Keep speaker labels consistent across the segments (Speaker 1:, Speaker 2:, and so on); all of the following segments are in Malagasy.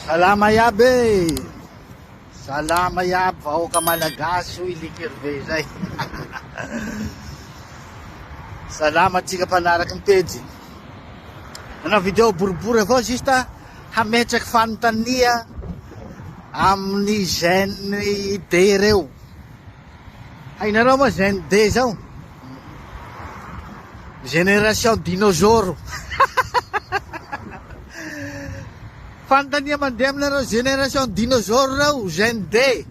Speaker 1: Salama iaby e! Salama iaby vahoaka malagasy hoy Likerve izay. Salama antsika mpanaraky ny pejy. Nanao vidéo boribory avao juste hametraky fanontania amin'ny gène D ireo. Hainareo moa Gen D zao? Génération dinôzôro. Fanontania mandeha aminareo génération dinôzôro reo Gen D.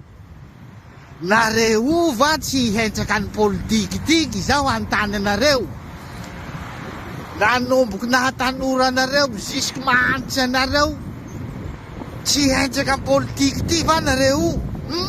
Speaker 1: Nareo va tsy hihenjaka ny politique ity izao hanontany anareo? Nanomboky naha tanora anareo jusque mahantra anareo tsy hihenjaka ny politique ity va nareo? Hum?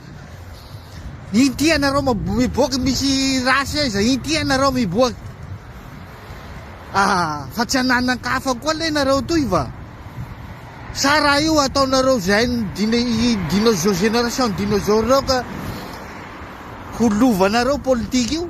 Speaker 1: Inty anareo miboaka misy race aiza inty anareo miboaka ah fa tsy ananan-kafa koa le nareo toy va sa raha io ataonareo zay dino génération dinosaure reo ka ho lovanareo politique io